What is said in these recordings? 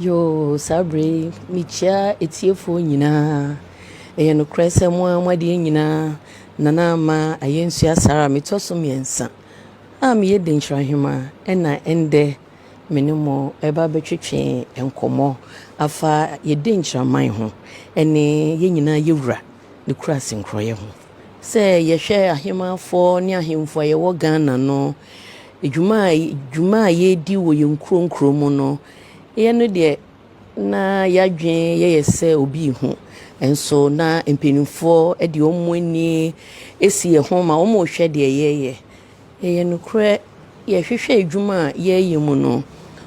Yoo, saa berɛ yi mekyia atiefoɔ nyinaa. Ɛyɛ nokorɛ sɛ mo ara mo adeɛ nyinaa na na ama ayɛ nsuo asaara a metɔ so mmiɛnsa a meyɛ Denkyira Ahemaa ɛna ɛndɛ me ne mo ɛreba abɛtwetwe nkɔmmɔ afa yɛ Denkyira man ho ɛne yɛn nyinaa yɛwura ne kuro Asenkrɔeɛ ho. Sɛ yɛhwɛ ahemanfoɔ ne ahemfo a yɛwɔ Ghana no, dwuma a dwuma a yɛredi wɔ yɛn nkuro nkuro mu no, yɛn no deɛ na yɛadwene yɛyɛ sɛ obi ho. Nso na mpanimfoɔ de wɔn ani si yɛn ho ma wɔhwɛ deɛ yɛyɛ. Ɛyɛ nokorɛ yɛhwehwɛ adwuma a yɛyɛ mu no,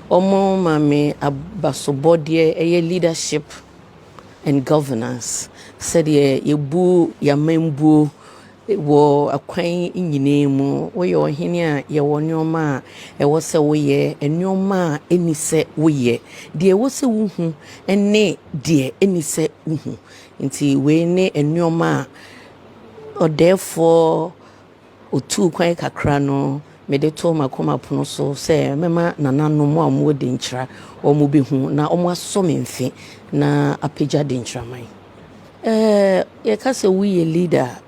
wɔma me abasobɔdeɛ ɛyɛ leadership and Governance, sɛdeɛ yɛbu yɛamambuo wɔ akwan nyinaa mu. Woyɛ ɔhene a, yɛwɔ nneɛma a ɛwɔ sɛ woyɛ, nneɛma a ɛni sɛ woyɛ, deɛ ɛwɔ sɛ wohu ne deɛ ɛni sɛ wohu. Nti wei ne nneɛma a ɔdɛɛfoɔ Otuu kwan kakra no, mede too m'akoma pono so sɛ mɛma nananom a wɔwɔ Denkyira a wɔbɛhu na wɔasɔ me mfe na apagya Denkyira man. Ɛɛ, yɛka sɛ woyɛ leader a,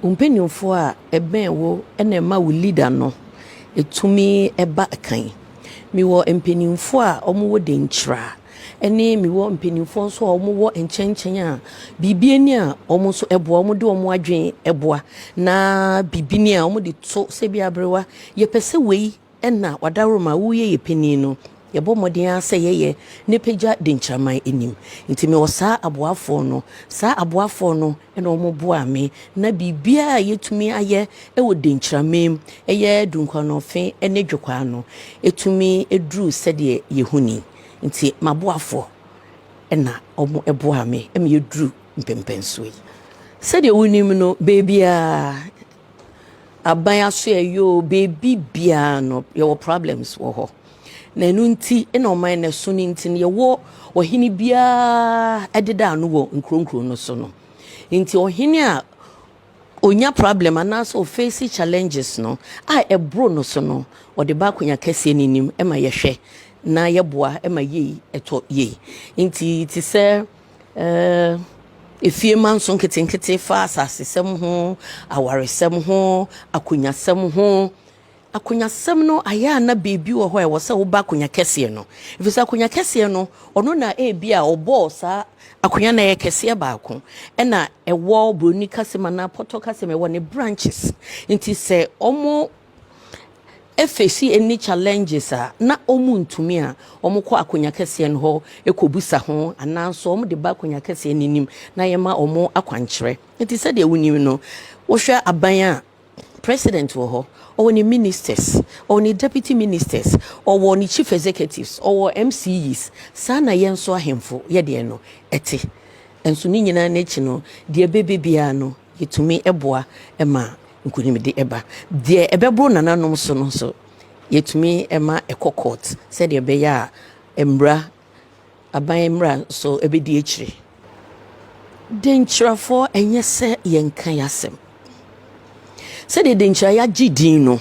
wo mpanimfoɔ a ɛbɛn wo na ɛma wo leader no tumi ba kan. Mewɔ mpanimfoɔ a wɔwɔ Denkyira a, ne mewɔ mpanimfoɔ nso a wɔwɔ nkyɛnkyɛn a biribi ani a wɔn nso boa wɔn de wɔn adwene boa na biribi ni a wɔde to sɛ bi aberewa yɛpɛ sɛ wei na wadaworo ma woyɛ yɛ panin no yɛbɔ mmɔden ara sɛ yɛyɛ ne pagya de nkyɛnman anim nti mewɔ saa aboafoɔ no saa aboafoɔ no na wɔn boa me na biribiara a yɛtumi ayɛ wɔ de nkyɛnman mu ɛyɛ dunkwanɔfe ne dwekwaa no ɛtumi ɛduru sɛdeɛ yɛhuni. Nti m'aboafoɔ na wɔboaa me ma yɛduru mpɛmpɛnsoɔ yi. Sɛdeɛ wonim no, baabiara, aban asoɛeɛ o, baabi biara no, yɛwɔ problems wɔ hɔ. Na ɛno nti na ɔman no so no nti no, yɛwɔ ɔhene biara ɛdeda ano wɔ nkuro nkuro no so no. Nti ɔhene a onya problem anaasɛ o face challenges no a ɛboro no so no, ɔde ba akonya kɛseɛ no anim ma yɛhwɛ na yɛboa ma yei ɛtɔ yei. Nti te sɛ uh, efie ma nso nketenkete fa asasesɛm ho, awaresɛm ho, akonyasɛm ho, Akonyasɛm no ayɛ a na baabi wɔ hɔ a ɛwɔ sɛ woba akonya kɛseɛ no, ɛfiri sɛ akonya kɛseɛ no, ɔno na ebi a ɔbɔɔ saa akonya no a ɛyɛ kɛseɛ baako, ɛna ɛwɔ Buroni kasa mu anaa Pɔtɔ kasa mu, ɛwɔ ne branches. Nti sɛ wɔn efesi any challenges a na wɔn ntumi a, wɔn kɔ akonya kɛseɛ no hɔ kɔbusa ho, anaa nso wɔn de ba akonya kɛseɛ no anim na yɛma wɔn akwankyerɛ. Nti sɛdeɛ wonim no, wohwɛ aban a, President wɔ hɔ, ɔwɔ ne ministers, ɔwɔ ne deputy ministers, ɔwɔ ne chief executives, ɔwɔ MCEs. Saa na yɛn nso ahemfo yɛ deɛn no ɛte. Nso ne nyinaa no akyi no, deɛ ɛbɛba biara no, yɛtumi boa ma nkonimdi ba. Deɛ ɛbɛboro nananom so no nso, yɛtumi ma ɛkɔ court sɛdeɛ ɛbɛyɛ a mmara aban mmara nso bɛdi akyire. Denkyirafoɔ ɛnyɛ sɛ yɛnka yɛ asɛm. Sɛdeɛ denkyira yɛagye din no,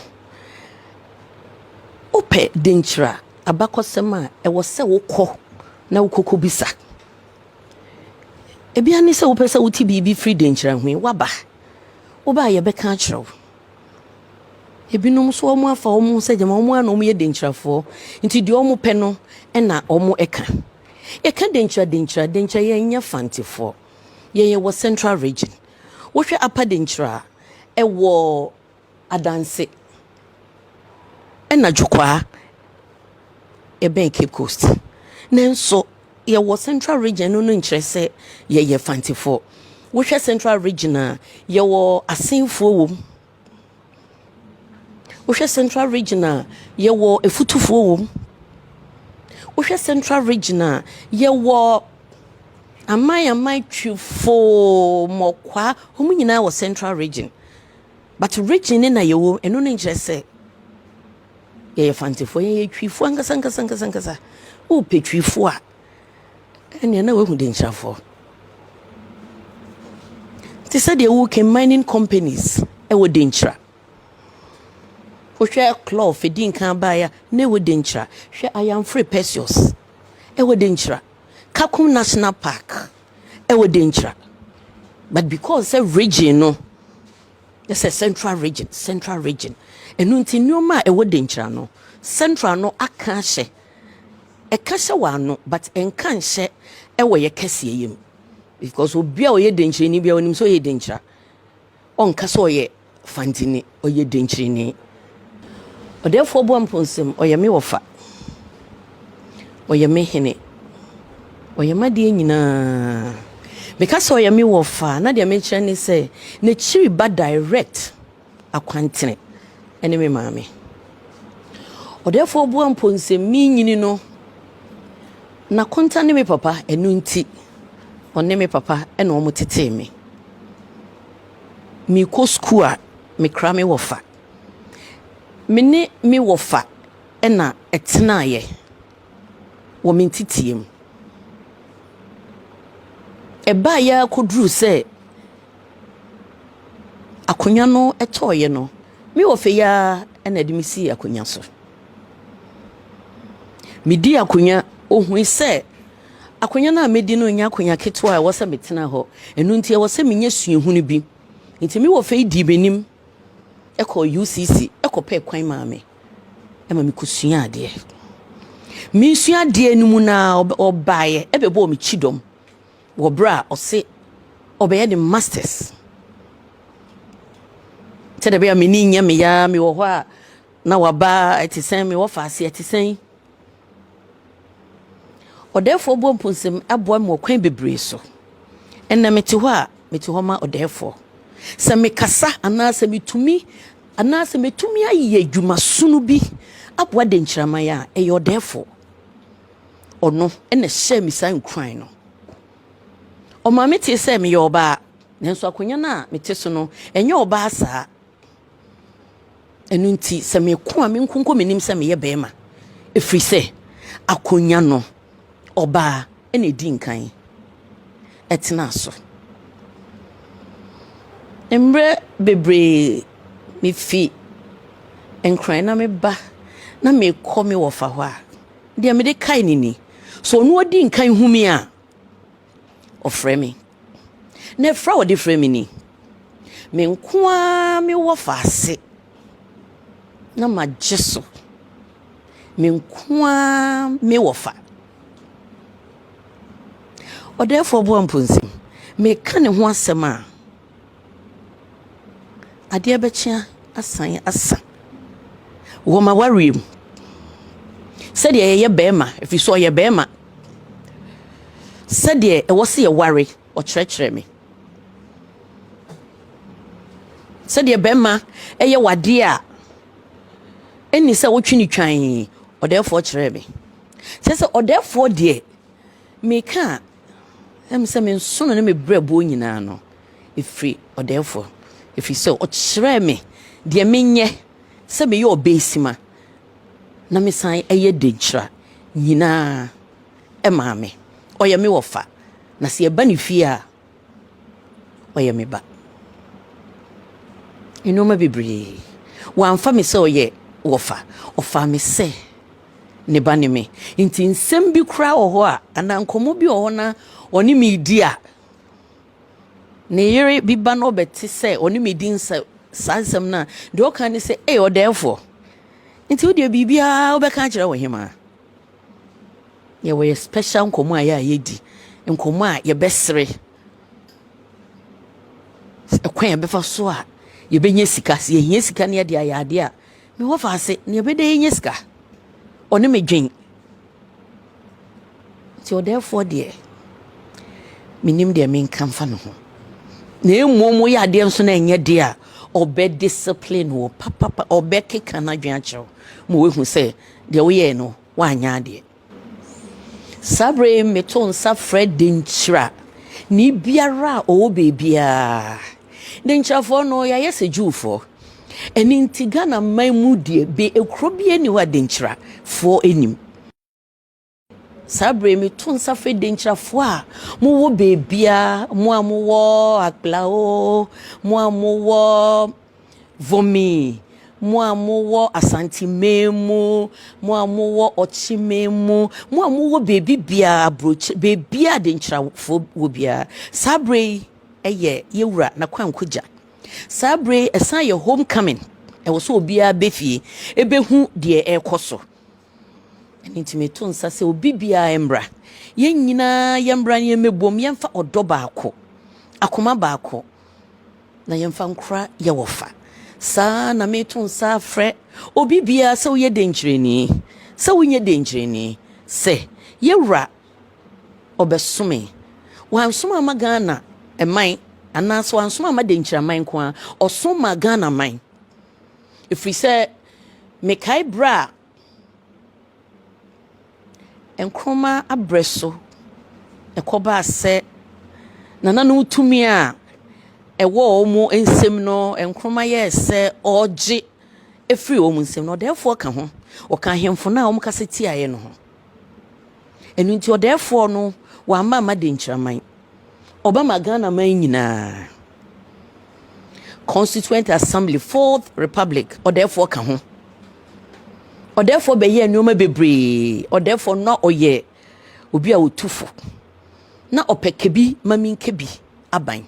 wopɛ denkyira abakɔsɛm a ɛwɔ sɛ wokɔ na wokɔkɔ bisa. Ebia ne sɛ wopɛ sɛ wote biribi firi denkyira ho yi, waba. Wobaa yɛbɛka akyerɛ wo. Ebinom nso wɔafa wɔn ho sɛ gyama wɔn ara na wɔyɛ denkyirafoɔ nti deɛ wɔpɛ no na wɔka. Yɛka denkyira denkyira denkyira yɛnyɛ fantefoɔ. Yɛyɛ wɔ central region. Wohwɛ apa denkyira a ɛwɔ adanse ɛna dwokwaa ɛbɛn cape coast nanso. Yɛwɔ central region no no nkyerɛ sɛ yɛyɛ fantifoɔ. Wohwɛ central region a, yɛwɔ asenfoɔ wɔ mu. Wohwɛ central region a, yɛwɔ efutufoɔ wɔ mu. Wohwɛ central region a, yɛwɔ aman aman twifo, mmɔkwaa, wɔn nyinaa wɔ central region. But region no na yɛwɔ mu, ɛno no nkyerɛ sɛ. Yɛyɛ Fantefoɔ, yɛyɛ Twifoɔ ankasa ankasa ankasa ankasa. Wopɛ Twifoɔ a, ɛnneɛ na woahu Denkyirafoɔ. Te sɛ deɛ woka mining companies ɛwɔ Denkyira. Wohwɛ Clough ɛdi nkan baeɛ a, na ɛwɔ Denkyira. Hwɛ Ayamfre Perseus ɛwɔ Denkyira. Kakum National Park ɛwɔ Denkyira. But because sɛ region no, Yɛ sɛ central region central region ɛnu nti nneɛma a ɛwɔ denkyira no central no aka ahyɛ ɛka hyɛ wɔ ano but ɛnka nhyɛ ɛwɔ yɛ kɛseɛ yɛ mu because obi a ɔyɛ denkyirani bi a ɔnim sɛ ɔyɛ denkyira ɔnka sɛ ɔyɛ fantini ɔyɛ denkyirani. Ɔdɛɛfoɔ Aboampɔnsam, ɔyɛ me wɔfa, ɔyɛ me hene, ɔyɛ m'adeɛ nyinaa. Meka sɛ ɔyɛ me wɔfa a, na deɛ mekyerɛ ne sɛ n'akyiri ba direct akwantene ne me maame. Ɔdɛɛfoɔ Aboampɔnsam, menyini no, n'akonta ne me papa, ɛno nti ɔne me papa na wɔtetee me. Mekɔ sukuu a, mekura me wɔfa. Me ne me wɔfa na ɛtenaeɛ wɔ me nteteɛ mu. Ɛbaeɛ ara kɔduruu sɛ akonnwa no tɔeɛ no, me wɔfa yi ara na ɛde me sii akonnwa so. Medii akonnwa, ɔhui sɛ akonnwa no a medi no nyɛ akonnwa ketewa a ɛwɔ sɛ metena hɔ, ɛno nti ɛwɔ sɛ menya suahunu bi. Nti me wɔfa yi dii m'anim kɔɔ UCC kɔpɛɛ kwan maa me ma mekɔsuaa adeɛ. Mensua adeɛ no mu no ara ɔbaeɛ bɛbɔɔ me kyidɔm wɔ berɛ a ɔse ɔbɛyɛ ne masters sɛdeɛ ɛbɛyɛ a m'ani nyɛ me yaa mewɔ hɔ a na waba ɛte sɛn mewɔ faase ɛte sɛn Ɔdɛɛfoɔ bɔ mposem boa me wɔ kwan bebree so. Ɛna mete hɔ a, mete hɔ ma ɔdɛɛfoɔ. Sɛ mekasa anaa sɛ metumi anaa sɛ metumi ayɛ adwuma sono bi aboa denkyiraman a, ɛyɛ ɔdɛɛfoɔ. Ɔno ɛna hyɛɛ me saa nkuran no. Ɔma me te sɛ meyɛ ɔbaa, nanso akonnwa no a mete so no, ɛnyɛ ɔbaa saa. Ɛno nti, sɛ meko a, me nkonko menim sɛ meyɛ barima, ɛfiri sɛ akonnwa no, ɔbaa na ɛdi nkan ɛtena so. Mmerɛ bebree mefi Nkran na meba na mekɔ me wɔfa hɔ a, deɛ mede kae no ni, sɛ ɔno ɔdi nkan hu me a, ɔfrɛ me. Na frɛ a wɔde frɛ me ni, Me nko ara me wɔ faase na magye so, me nko ara me wɔ fa. Ɔdɛɛfoɔ Boampɔnsim, meka ne ho asɛm a. Adeɛ bɛkyea asan asa wɔ ma wareɛ mu sɛdeɛ yɛyɛ bɛrima ɛfiri sɛ ɔyɛ bɛrima sɛdeɛ ɛwɔ sɛ yɛware ɔkyerɛkyerɛ me sɛdeɛ bɛrima ɛyɛ wadeɛ a ɛnni sɛ wotwe ne twan ɔdɛɛfoɔ kyerɛ me sɛ sɛ ɔdɛɛfoɔ deɛ meka a ɛm sɛ mensono ne mebrɛboɔ nyinaa no firi ɔdɛɛfoɔ, ɛfiri sɛ ɔkyerɛɛ me deɛ menyɛ sɛ meyɛ ɔbeasima na mesan yɛ denkyira nyinaa maa me. Ɔyɛ me wɔfa, na sɛ yɛba ne fie a, ɔyɛ me ba. Nneɛma bebree. Wamfa me sɛ ɔyɛ wɔfa, ɔfaa me sɛ ne ba ne me. Nti nsɛm bi koraa wɔ hɔ a, anaa nkɔmmɔ bi wɔ hɔ na ɔne me redi a, Ne yere bi ba no bɛte sɛ ɔne me di nsɛ saa nsɛm no a, deɛ ɔka ne sɛ, ee ɔdɛɛfoɔ, nti wodeɛ biribiara wobɛka akyerɛ wo hemaa. Yɛwɔ yɛ special nkɔmmɔ a yɛ a yɛdi, nkɔmmɔ a yɛbɛsere ɛkwan a yɛbɛfa so a yɛbɛnya sika, sɛ yɛhia sika ne yɛde ayɛ adeɛ a, mewɔ fa ase, ne yɛbɛda yɛnya sika. Ɔne me dwen, Nti ɔdɛɛfoɔ deɛ, mennim deɛ menka mfa ne ho. Na mmom woyɛ adeɛ nso na ɛnyɛ deɛ a, ɔbɛ discipline wo papapa, ɔbɛ keka n'adwene akyerɛ wo ma woahu sɛ deɛ woyɛɛ no woanyɛ adeɛ. Saa berɛ yi meto nsa frɛ denkyira ne biara a ɔwɔ baabiara. Denkyirafoɔ no yɛayɛ sɛ Jewfoɔ, Ɛno nti Ghana man mu deɛ be ekuro bi ani hɔ a denkyira foɔ anim. Saa bere mi to nsa fɛ denkyira foɔ a mo wɔ beebia mo a mo wɔ akpla o mo a mo wɔ vomi mo a mo wɔ asanti memu mo a mo wɔ ɔkye memu mo a mo wɔ beebi bia aburokye beebia denkyira foɔ wɔ bia saa bere yi ɛyɛ yɛwura na kwankogya. Saa bere yi, ɛsan yɛ home coming. Ɛwɔ sɛ obiara bɛ fie ɛbɛhu deɛ ɛrekɔ so. Ɛno nti meto nsa sɛ obi biara mmra. Yɛn nyinaa yɛmmra na yɛmmɛbom, yɛmfa ɔdɔ baako, akoma baako, na yɛmfa nkora yɛ wɔfa. Saa na meto nsa frɛ obi biara sɛ woyɛ denkyerɛni, sɛ wonyɛ denkyerɛni, sɛ yɛwura ɔbɛsomee. Wansom amma Ghana man anaasɛ wansom amma Denkyiraman nko ara, ɔsom maa Ghana man. Ɛfiri sɛ mekae berɛ a Nkrumah abrɛ so ɛkɔbaa sɛ Nana no tumi a ɛwɔ wɔn nsam no, Nkrumah yɛɛ sɛ ɔregye ɛfiri wɔn nsam no, ɔdɛɛfoɔ ka ho, ɔka ahemfo no a wɔkasa tiaeɛ no ho. Ɛno nti ɔdɛɛfoɔ no wamma mma Denkyiraman. Ɔbɛma Ghana man nyinaa. Constituent Assembly, Fourth Republic, ɔdɛɛfoɔ ka ho. Ɔdɛɛfoɔ bɛyɛ nneɛma bebree. Ɔdɛɛfoɔ no na ɔyɛ obi a ɔtu fo. Na ɔpɛ kabi ma menkabi aban.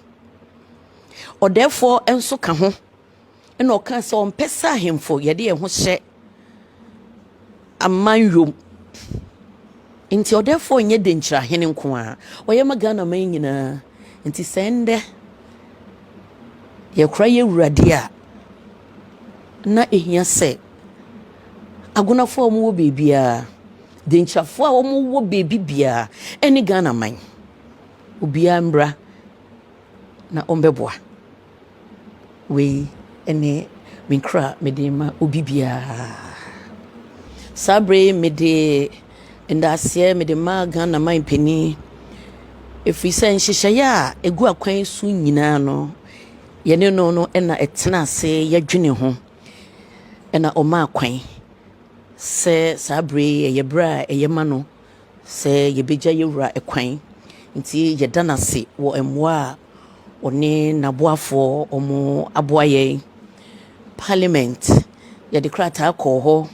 Ɔdɛɛfoɔ nso ka ho. Ɛnna ɔkaa sɛ ɔmpɛ sɛ ahemfo yɛde yɛn ho hyɛ aman yom. Nti ɔdɛfoɔ nyɛ denkyira hene nko ara, ɔyɛ ma Ghana man nyinaa. Nti sɛ ndɛ yɛkora yɛ awurade a, na ehia sɛ agonafoɔ a wɔwɔ baabiara, denkyirafoɔ a wɔwɔ baabi biara ɛne Ghana man, obiara mbra na ɔmbɛboa. Wei ne me nkra a mede rema obi biara. Saa berɛ yi mede nnaaseɛ mede rema Ghana man panin, ɛfiri sɛ nhyehyɛeɛ a ɛgu akwan so nyinaa no, yɛne no no na ɛtenaa ase yɛdwene ho na ɔmaa kwan sɛ saa berɛ yi yɛ berɛ a ɛyɛ ma no. sɛ yɛbɛgya yɛn wura kwan. Nti yɛda no ase wɔ mmoa a ɔne n'aboafoɔ wɔaboa yɛn. Parliament, yɛde krataa kɔɔ hɔ,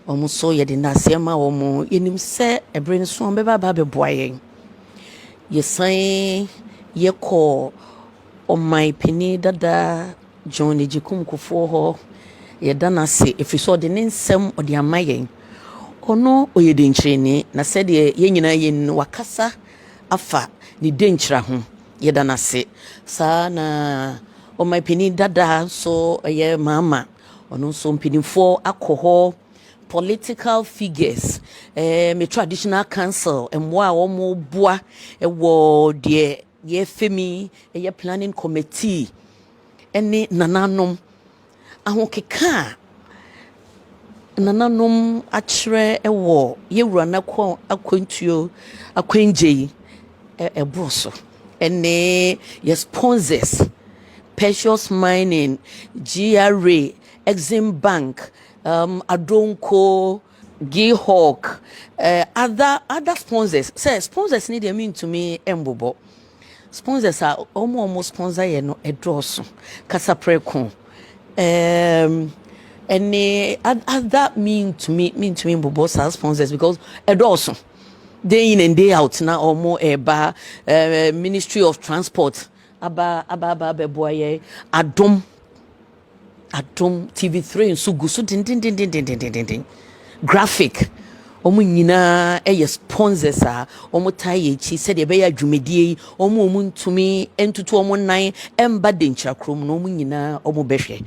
wɔn nso yɛde nnaseɛ ma wɔn. Yɛnim sɛ ɛberɛ no so wɔbɛba aba abɛboa yɛn. Yɛsan yɛkɔɔ ɔman panin dada. John Agyekum Kufuor hɔ. Yɛda no ase ɛfiri sɛ ɔde ne nsɛm ɔde ama yɛn. Ɔno ɔyɛ denkyireni na sɛdeɛ yɛn nyinaa yɛnim no wakasa afa ne denkyira ho. Yɛda no ase. Saa na ɔmanpanin dada nso ɔyɛ Mahama. Ɔno nso mpanimfoɔ akɔ hɔ. Political figures, eh, me traditional council, mmoa a wɔboa wɔ deɛ Yɛn FEMI, ɛyɛ Planning Committee, ɛne nananom ahokeka a nananom akyerɛ wɔ yɛn wura no akwantuo akwangye yi ɛboro so ɛne yɛ sponsors Precious Mining, GRA, Exim Bank, um, Adonko, Geehawk eh, other other sponsors sɛ sponsors ne deɛ mentumi mbobɔ sponsors a wɔn a wɔn sponsor yɛ no ɛdɔɔso kasaprɛko um, ɛne oth- other mentumi mentumi mbobɔ saa sponsors because ɛdɔɔso day in and day out na wɔn ɛreba eh, ministry of transport aba aba aba abɛboa yɛn adom Adom TV three nso gu so dendendendendendenden. Graphic, wɔn nyinaa yɛ sponsors a wɔtaa yɛ akyi sɛdeɛ ɛbɛyɛ a dwumadie yi wɔn a wɔntumi ntutu wɔn nan mba Denkyira kurom no wɔn nyinaa wɔbɛhwɛ.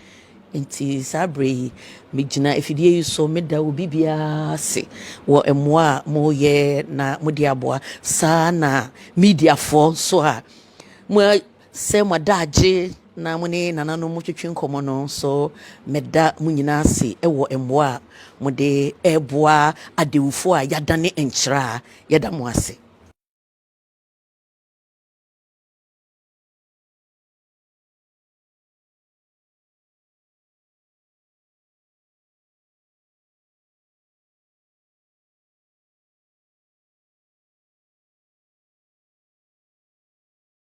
Nti saa berɛ yi megyina afidie yi so meda obi biara ase wɔ mmoa a moyɛ na mode aboa saa na mediafoɔ nso a mo Sɛ mo adagye na mo ne nananom twetwe nkɔmmɔ no nso, meda mo nyinaa ase wɔ mmoa a mode reboa adawufo a yɛadane nkyerɛ a, yɛda mo ase.